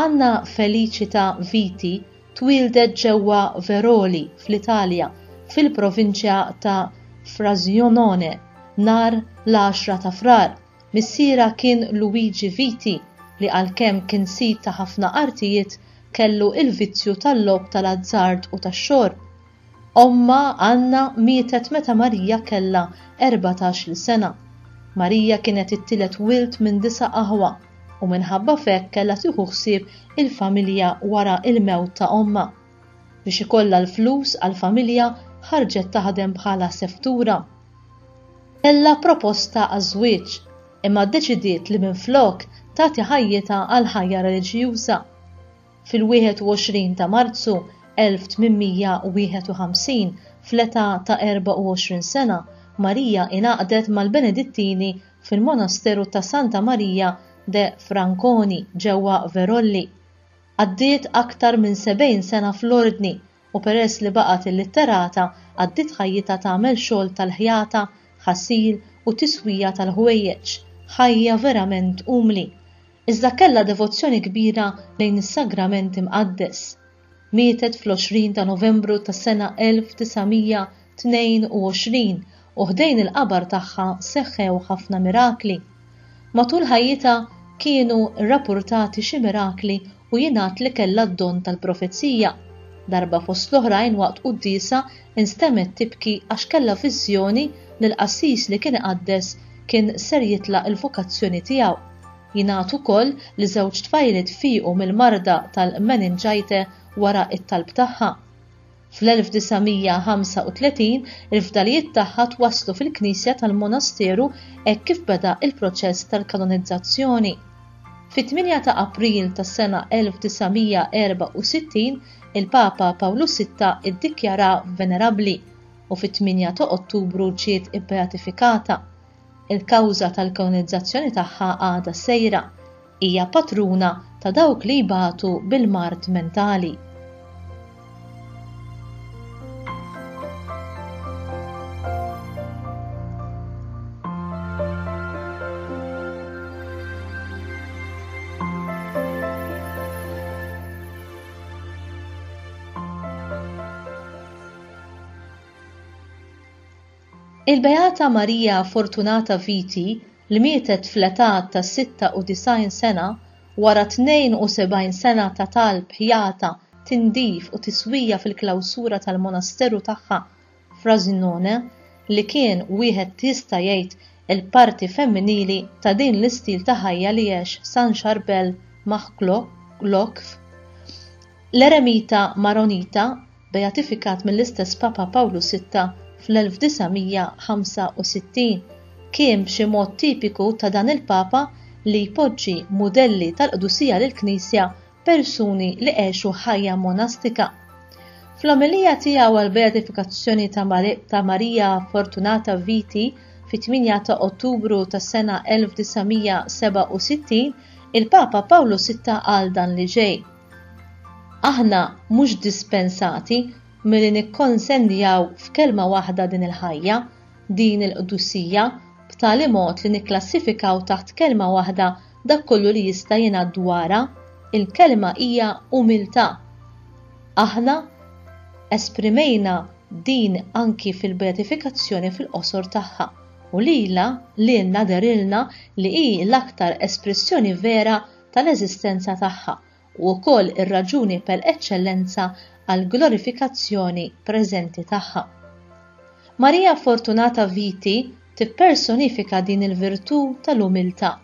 Anna Felicita Viti twieldet ġewwa Veroli fl-Italja fil-provinċja ta' Frosinone nhar l-10 ta' Frar. Missierha kien Luigi Viti li għalkemm kien sid ta' ħafna artijiet kellu l-vizzju tal-logħob tal-azzard u tax-xorb. Ommha, Anna, mietet meta Marija kellha erbatax-il sena. Marija kienet it-tielet wild minn disa' aħwa, u minħabba f'hekk kellha tieħu ħsieb il-familja wara l-mewt ta' ommha. Biex ikollha l-flus għall-familja ħarġet taħdem bħala seftura. Kellha proposta għaż-żwieġ, imma ddeċidiet li minflok tagħti ħajjitha għall-ħajja reliġjuża. Fil-21 ta' Marzu 1851, fl-età ta' 24 sena, Marija ingħaqdet mal-Benedittini fil-monasteru ta' Santa Marija de Franconi ġewwa Verolli. Qaddiet aktar minn sebgħin sena fl-ordni u peress li baqgħet illitterata għaddiet ħajjitha tagħmel xogħol tal-ħjata, ħasil u tiswija tal-ħwejjeġ, ħajja verament umli. Iżda kellha devozzjoni kbira lejn is-Sagrament Imqaddes. Mietet fl-20 ta' Novembru tas-sena 1900. 22 u ħdejn il-qabar tagħha seħħew ħafna mirakli. Matul ħajjitha kienu rrapurtati xi mirakli u jingħad li kellha d-don tal-profezija. Darba fost l-oħrajn waqt quddiesa instemgħet tibki għax kellha viżjoni li l-qassis li kien iqaddes kien ser jitlaq il-vokazzjoni tiegħu. Jingħad ukoll li żewġ tfajliet fiequ mill-marda tal-meningite wara t-talb tagħha. Fl-1935 il-fdalijiet tagħha twasslu fil-knisja tal-monasteru hekk kif beda l-proċess tal-kanonizzazzjoni. Fit-8 ta' April tas-sena 1964 il-Papa Pawlu Sitta ddikjara venerabbli u fit-8 ta' Ottubru ġiet ibbeatifikata. Il-kawża tal-kanonizzazzjoni tagħha għadha sejra. Hija patruna ta' dawk li jbatu bil-mard mentali. Il-Beata Marija Fortunata Viti li mietet fl-età ta' 96 sena wara 72 sena ta' talb, ħjata, tindif u tiswija fil-klawsura tal-monasteru tagħha Frasinone li kien wieħed jista' jgħid il-parti femminili ta' din l-istil ta' ħajja li għex San Charbel Makhlouf, l-eremita Maronita beatifikat mill-istess Papa Pawlu Sitta fl-1965, kien b'xi mod tipiku ta' dan il-Papa li jpoġġi mudelli tal-qdusija lill-Knisja persuni li għexu ħajja monastika. Fl-omelija tiegħu għall-beatifikazzjoni ta' Marija Fortunata Viti fit-8 ta' Ottubru tas-sena 1967, il-Papa Pawlu Sitta qal dan li ġej. Aħna mhux dispensati milli nikkonsenjaw f'kelma waħda din il-ħajja, din il-qdusija, b'tali mod li nikklassifikaw taħt kelma waħda dak kollu li jista' jingħad dwarha, il-kelma hija umiltà. Aħna esprimejna din anki fil-beatifikazzjoni fil-qosor tagħha, u lilha lilna dehrilna li hi l-aktar espressjoni vera tal-eżistenza tagħha u wkoll ir-raġuni per eċċellenza għall-glorifikazzjoni preżenti tagħha. Marija Fortunata Viti tippersonifika din il-virtù tal-umiltà.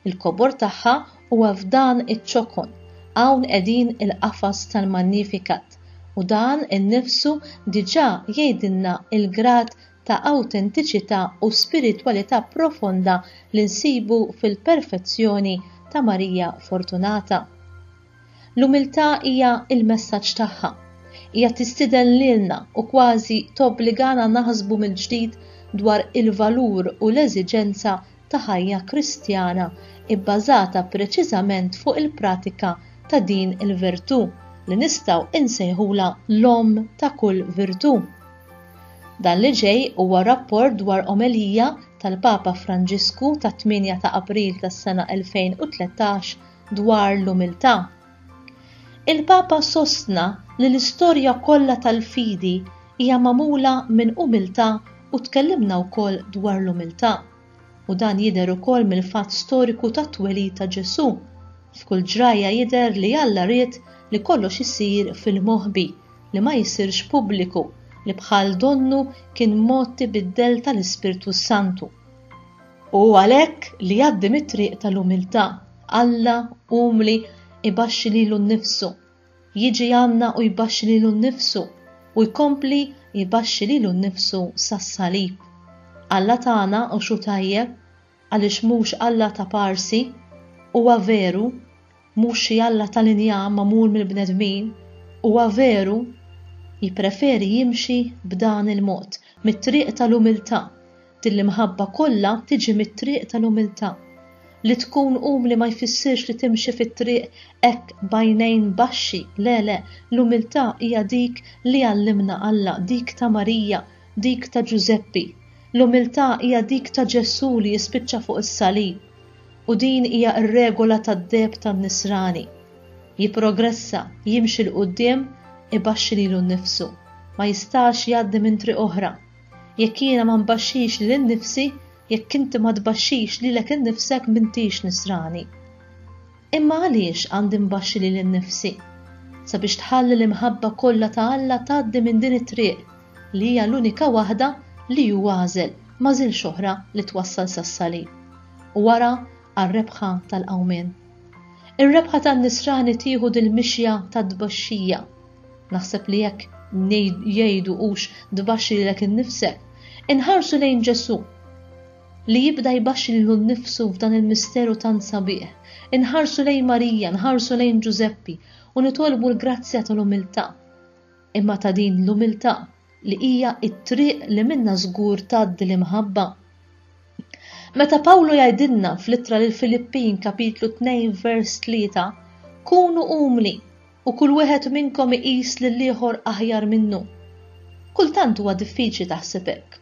Il-kobor tagħha huwa f'dan iċ-ċokon, hawn qegħdin il-qafas tal-Magnificat, u dan innifsu diġà jgħidilna l-grad ta' awtentiċità u spiritwalità profonda li nsibu fil-perfezzjoni ta' Marija Fortunata. L-umiltà hija l-messaġġ tagħha. Hija tistieden lilna u kważi tobbligana naħsbu mill-ġdid dwar il-valur u l-eżiġenza ta' ħajja Kristjana bbażata preċiżament fuq il-pratika ta' din il-virtù li nistgħu nsejħulha l-omm ta' kull virtù. Dan li ġej huwa rapport dwar omelija tal-Papa Franġisku tat-8 ta' April tas-sena 2013 dwar l-umiltà. Il-Papa sostna li l-istorja kollha tal-fidi hija magħmula minn umiltà u tkellimna wkoll dwar l-umiltà, u dan jidher ukoll mill-fatt storiku tat-twelid ta' Ġesù, f'kull ġrajja jidher li Alla ried li kollox isir fil-moħbi, li ma jsirx pubbliku li bħal donnu kien mod tibiddel tal-Ispirtu s-Santu. U għalhekk li jgħaddi mit-triq tal-umiltà, Alla umli ibaxxi lilu nnifsu, jiġi għandna u jbaxxi lilu nnifsu u jkompli jbaxxi lilu nnifsu sas-salib. Alla tagħna u xu tajjeb għaliex mhux Alla ta' Parsi, huwa veru, mhux xi alla tal-injam magħmul mill-bnedmin, huwa veru, jippreferi jimxi b'dan il-mod, mit-triq tal-umiltà, din l-imħabba kollha tiġi mit-triq tal-umiltà. Li tkun umli ma jfissirx li timxi fit-triq hekk b'għajnejn baxxi, le le, l-umiltà hija dik li għallimna Alla, dik ta' Marija, dik ta' Ġużeppi, l-umiltà hija dik ta' Ġesù li jispiċċa fuq is-salib, u din hija r-regola tad-deheb tan-nisrani. Jipprogressa, jimxi 'l quddiem, ibaxxi lilu nnifsu. Ma jistax jgħaddi minn triq oħra. Jekk jiena ma nbaxxix lil innifsi, jekk inti ma tbaxxix lilek innifsek m'intix nisrani. Imma għaliex għandi nbaxxi lili nnifsi? Sabiex tħalli l-imħabba kollha ta' Alla tgħaddi minn din it-triq, li hija l-unika waħda li hu għażel, m'għażilx oħra li twassal sas-salib, u wara għar-rebħa tal-qawmien. Ir-rebħa tan-nisrani tieħu dil-mixja ta' tbaxxija. Naħseb li hekk jgħidu hux tbaxxi lilek innifsek. Inħarsu lejn Ġesù. li jibda jbaxxi lilu nnifsu f'dan il-misteru tant sabiħ, inħarsu lejn Marija, nħarsu lejn Ġużeppi u nitolbu l-grazzja tal-umiltà, imma ta' din l-umiltà li hija t-triq li minnha żgur tgħaddi l-imħabba. Meta Pawlu jgħidilna fl-ittra lil Filippin kapitlu 2 vers 3, kunu umli u kull wieħed minnkom iqis lil ieħor aħjar minnu. Kultant huwa diffiċli taħseb hekk.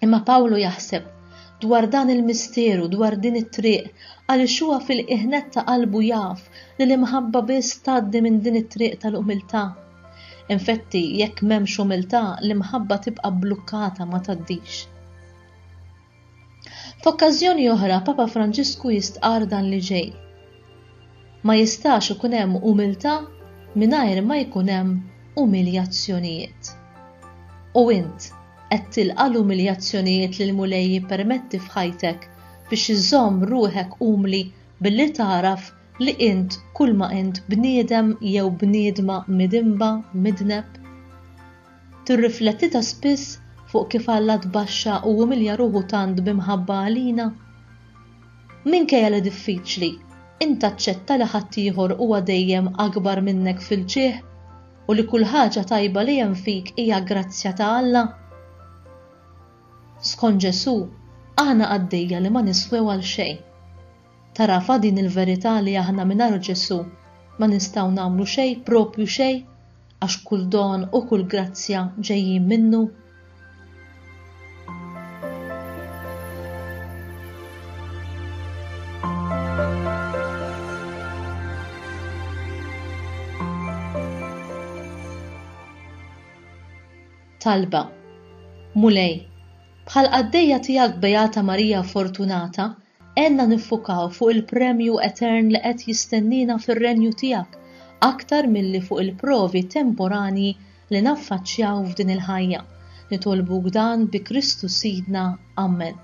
Imma Pawlu jaħseb dwar dan il-misteru, dwar din it-triq, għaliex huwa fil-qiegħnet ta' qalbu jaf li l-imħabba biss tgħaddi minn din it-triq tal-umiltà. Infetti, jekk m'hemmx umiltà, l-imħabba tibqa' blukkata ma tgħaddix. F'okkażjoni oħra, Papa Franġisku jistqar dan li ġej. Ma jistax ikun hemm umiltà mingħajr ma jkun hemm umiljazzjonijiet. U int qed tilqa' l-umiljazzjonijiet li l-Mulej jippermetti f'ħajtek biex iżżomm ruħek umli billi tagħraf li int kulma int bniedem jew bniedma midinba, midneb? Tirriflettita spiss fuq kif Alla tbaxxa u umilja ruħu tant b'imħabba għalina? Minkejja li diffiċli, int taċċetta li ħaddieħor huwa dejjem akbar minnek fil-ġieħ u li kull ħaġa tajba li hemm fik hija grazzja ta' Alla? Skont Ġesù, aħna qaddejja li ma niswew għal xejn. Tarafha din il-verità li aħna mingħajr Ġesù ma nistgħu nagħmlu xejn, proprju xejn? għax kull don u kull grazzja ġejjin minnu? Talba Mulej, bħal qaddejja tiegħek Beata Marija Fortunata Għenna niffukaw fuq il-premju etern li qed jistenniena fir-Renju tiegħek aktar milli fuq il-provi temporanji li naffaċċjaw f'din il-ħajja. Nitolbuk dan bi Kristu Sidna. Ammen.